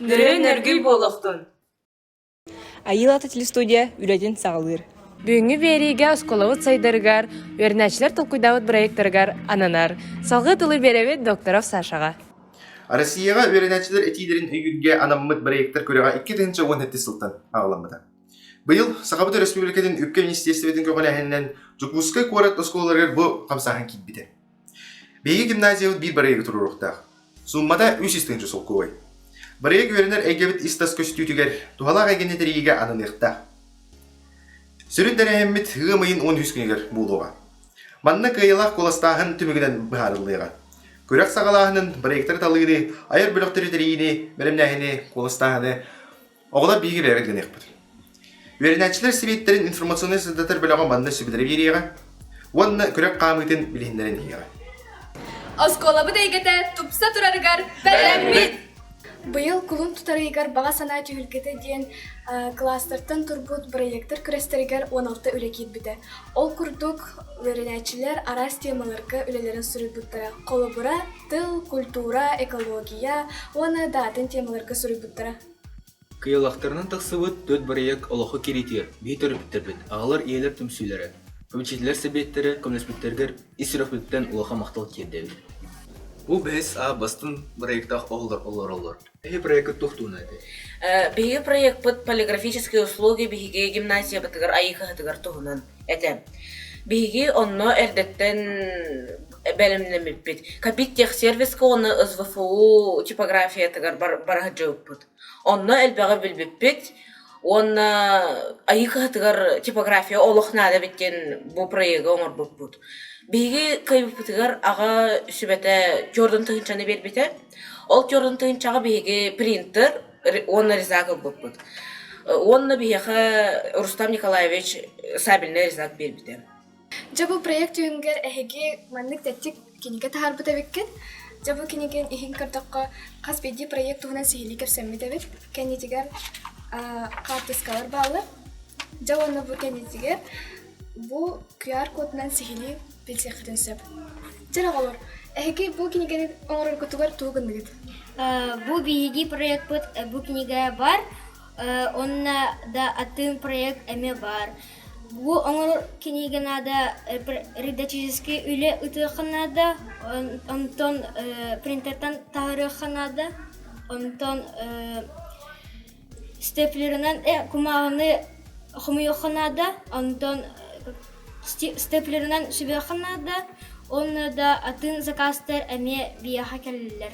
Нөрөйүн өргүй буолохтун. Айыылата телестудия үлэтин саҕалыыр. Бүгүҥҥү биэриигэ осколобут сайдарыгар, үөрэнээччилэр толкуйдаабыт проекттарыгар ананар. Салгыы тылы биэрэбит докторов Сашаҕа. Россияҕа үөрэнээччилэр этиилэрин өйүүргэ анаммыт проектар күрэҕэ 2 тыһыынча уон сэттис сылтан аҕаламмыта. Быйыл Сахабыт Өрөспүүбүлүкэтин үпкэ министиэристибэтин көҕүлээһининэн Дьокуускай куорат оскуолаларыгар бу хамсааһын киирбитэ. Биһиги гимназиябыт биир барыайыга туруоруохтаах. Сууммата үс ис тыһыынча солкуобай. Барыайык үөрэнэр эйгэбит ис-тас көстүүтүгэр, туһалаах эйгэни тэрийиигэ ананыахтаах. Сүрүн тэрээһиммит ыам ыйын уон үһүс күнүгэр буолуоҕа. Манна кыайыылаах куоластааһын түмүгүнэн быһаарыллыаҕа. Күрэх саҕалааһынын, проектары талыыны, айар бөлөхтөрү тэрийиини, бэлэмнээһини, куоластааһыны Оҕолор биһиги бэйэбит гыныахпыт. Үөрэнээччилэр сэбиэттэрин информационнай-сырдатар бөлөҕө манна сөбүлэри биэриэҕэ уонна күрэх хаамыытын билиһиннэрэн иһиэҕэ. Оскуолабыт эйгэтэ тупса турарыгар бэлэммит! Быйыл кулун тутарыгар баҕа санаа түһүлгэтэ диэн кластертан турбут бырайыактар күрэстэригэр 16 үлэ киирбитэ. Ол курдук, үөрэнээччилэр араас темаларга үлэлэрин суруйбуттара. Холобура, тыл, культура, экология уонна даатын темаларга суруйбуттара. Кыйалахтарынан тахсыбыт Түөрт бырайыак олоххо киириитигэр биһи төрөппүттэрбит, аҕалар, ийэлэр түмсүүлэрэ, попечительлэр сэбиэттэрэ көмөлөспүттэригэр ис сүрэхпититтэн улахан махтал тиэрдэбит. Бу бэһис аа бастыҥ бырайыактаах оһоллор олороллор. Биһи бырайыакка туох туһунан этэй? Э, Биһиги проекпыт полиграфические услуги биһиги гимназиябытыгар айыыһытыгар туһунан этэ. Биһиги онно эрдэттэн бэлэмнэммиппит Капиттехсервиска уонна СВФУ типографиятыгар бар, бара сылдьыбыппыт. Онно элбэҕи билбиппит уонна Айыы кыһатыгар типография олох наада эбит диэн бу проегы оҥорбуппут. Биһиги кыайбыппытыгар аҕа сүбэтэ Jordan тыһыынчаны биэрбитэ. Ол Jordan тыһыынчаҕа биһиги принтер уонна ризак ылбыппыт. Уонна биһиэхэ Рустам Николаевич сабельный ризак биэрбитэ. Дьэ бу проект түһүнгэр эһиги маннык тэттик кинигэ таһаарбыт эбиккит. Дьэ бу кинигин иһин көрдөххө хас биирдии проект туһунан сиһилии кэпсэммит эбит. Кэннитигэр хаартыскалар бааллар. Дьэ уонна бу кэннитигэр бу QR-кодунан сиһилии билсиэххитин сөп. Дьэ оҕолор, эһиги бу кинигэни оҥороргутугар тугу гынныгыт? Бу биһиги проекпыт бу кинигэ бар. Э, Онно да атын проект эмэ бар. Бу оҥорор кинигэ наада рядовическай үлэ ытыахха наада, онтон принтертан таһаарыахха наада, онтон степлерынан кумааҕыны хомуйуохха наада, онтон степлерынан сүбэххэ наада, онно да атын закастар эмиэ биһиэхэ кэлэллэр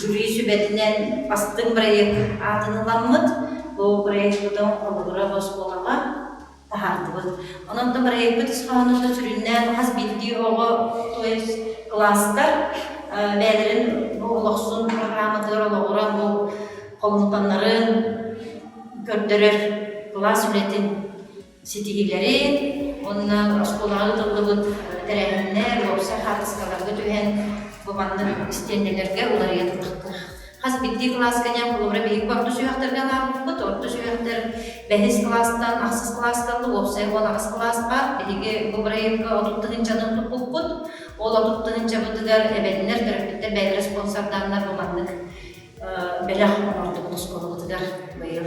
Жюри сүбэтинэн бастыҥ проект аатын ыламмыт. Бу проекпытын холобура босхолоҕо таһаардыбыт. Онон да проекпыт ис хоһоонота сүрүннээн хас биирдии оҕо, то есть класстар бэйэлэрин бу олохсун хааматыгар олоҕура бу холумтаннарын көрдөрөр кылаас үлэтин ситиһиилэрин уонна оскуолаҕа ыытыллыбыт тэрээһиннэр, уопсай хаартыскаларга түһэн, бобаннык истиэнньэлэргэ уларыйа турбуттар. Хас биирдии кылааска ньам холобура биһиги орто сүһүөхтэргэ анаабыппыт. Орто сүһүөхтэр бэһис кылаастан ахсыс кылааска алла, уопсай уон аҕыс кылааска биһиги бу бырайыакка отут тыһыынчаны туппуппут. Ол отут тыһыынчабытыгар эбэтинэр төрөппүттэр бэйэлэрэ спонсордааннар бобаннык бэлэх оҥордубут оскуолабытыгар быйыл.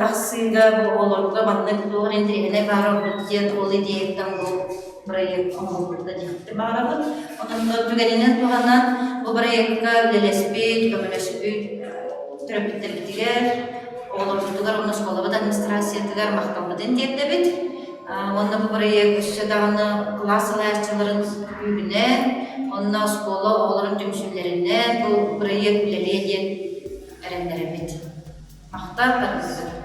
Тахсыыга бу оҕолорго маннык туох интэриэһинэй баар ордук диэн ол идеяттан бу проект оҥорбукка диэхпин баҕарабын. Онон түгэнинэн туһанан бу проекка үлэлэспит, көмөлөспүт төрөппүттэрбитигэр, оҕолорбутугар уонна оскуолабыт администрациятыгар махталбытын тиэрдэбит. Уонна бу проект өссө даҕаны кылаас салайааччыларын күүһүнэн, онно оскуола оҕолорун түмсүүлэринэн бу проект үлэлиэ диэн эрэннэрэбит. Ахтар да биллэр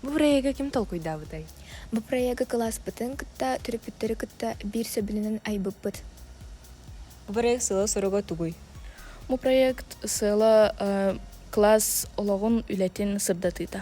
Бу бырайыагы ким толкуйдаабытай? Бу бырайыагы кылааспытын кытта, төрөппүттэри кытта биир сөбүлүнэн айбыппыт. Бу бырайыак сыала-соруга тугуй? Бу проект сыала э, кылаас олоҕун, үлэтин сырдатыыта.